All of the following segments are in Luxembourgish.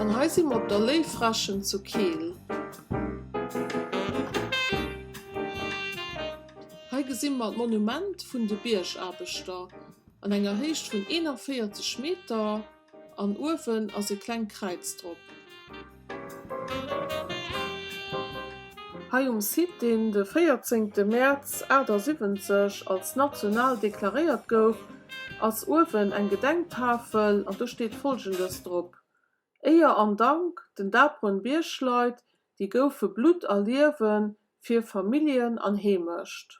An hei si mer op der Léiffrächen zu Keel. Hei gesi mer d'Monument vun de Biergaarbechter an enger Héicht vun 41 Meter an uewen ass e klengt Kräiz drop. Hei um Site, deen de 14 Mäerz 78 als national deklaréiert gouf, ass uewen eng Gedenktafel an do steet Folgendes drop, Éier an Dank den daperen Biergleit, déi goufe Blutt a Liewen fir Familljen an Heemecht.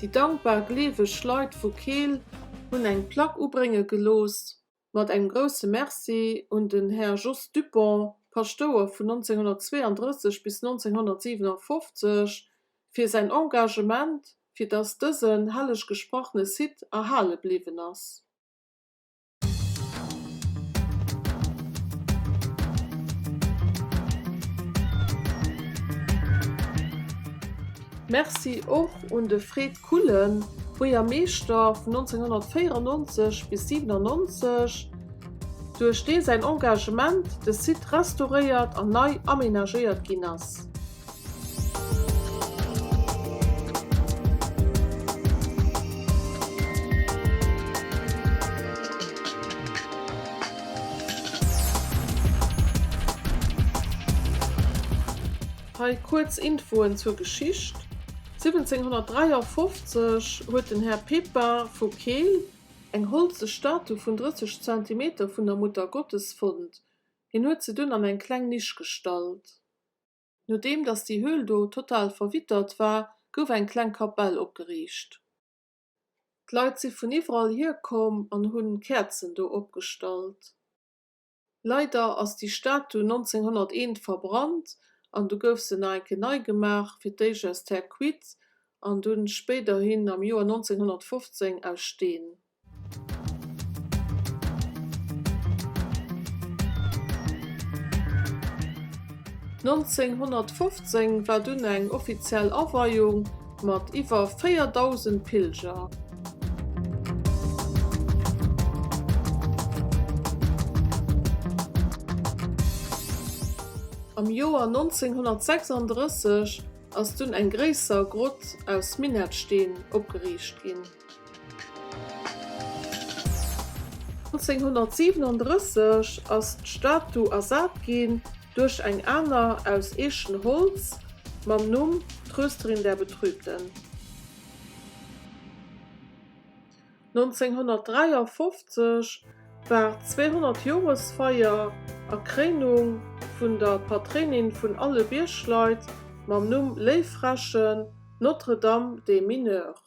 Déi dankbar gleeweg Leit vu Keel hunn eng Plack ubrénge gelooss mat engem grousse Merci un den Här Jos Dupont, Paschtouer vun 1932 bis 1957, fir säin Engagement, fir dass dësen helleg gesprochene Site erhale bliwwen ass. Merci och un de Fred Kullen, Buergermeeschter vun 1994 bis 97, duerch dee säin Engagement de Site restauréiert an nei amenagéiert ginn ass. Hei kuerz Infoen zur Geschicht, 1753 huet den Här Pepin vu Keel eng holze Statu vun 30 Zentimeter vun der Muttergottes fonnt. Hien huet se dunn an eng kleng Nisch gestallt. Nodeem datt déi Höhl do total verwittert war, gouf eng kleng Kapell opgeriicht. D'Leit si vun iwwerall hier komm an hunn Käerzen do opgestallt. Leider ass déi Statu 1901 verbrannt an du gouf se nach eng Kéier nei gemaach, fir d'éischt aus Terre cuite an dunn spéiderhin am Joer 1915 aus Steen. 1915 war dunn eng offiziell Aweiung mat iwwer 4.000 Pilger. Am Joer 1936 ass dunn eng gréisser Grott aus Minettsteen opgeriicht ginn. 1937 ass d'Statu ersat ginn duerch eng aner aus Eechenholz mam Numm Trösterin der Betrübten. 1953 war d'Zweehonnert Joresfeier a Kréinung vun der Patréinin vun alle Biergleit mam Numm Léiffrächen, Notre-Dame des Mineurs.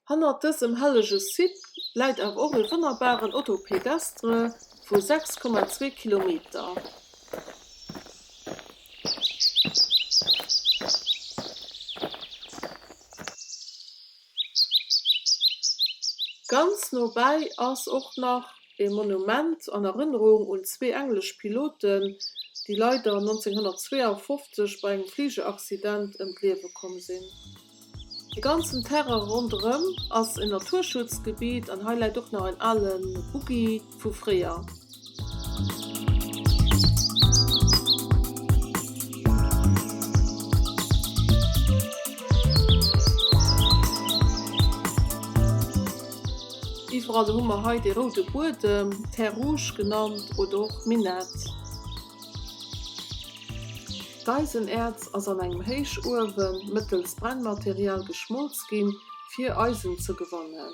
Hannert dësem hellege Site läit awer och e wonnerbaren Auto pédestre vu 6,2 Kilometer. Ganz no bäi ass och nach e Monument an Erënnerung un zwee englesch Piloten, déi leider 1952 bei engem Fligeraccident ëm d'Liewe komm sinn. De ganzen Terrain ronderëm ass en Naturschutzgebiet an hei läit och nach en ale Buggi vu fréier. Iwwerall hu mer hei dee roude Buedem, Terre rouge genannt oder och Minett. D'Eisenäerz ass an engem Héichuewen mëttels Brennmaterial geschmolz ginn, fir Eisen ze gewannen.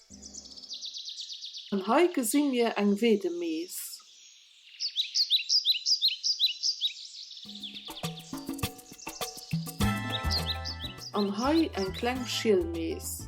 An hei gesi mir eng Weedemees. An hei eng kleng Schielmees.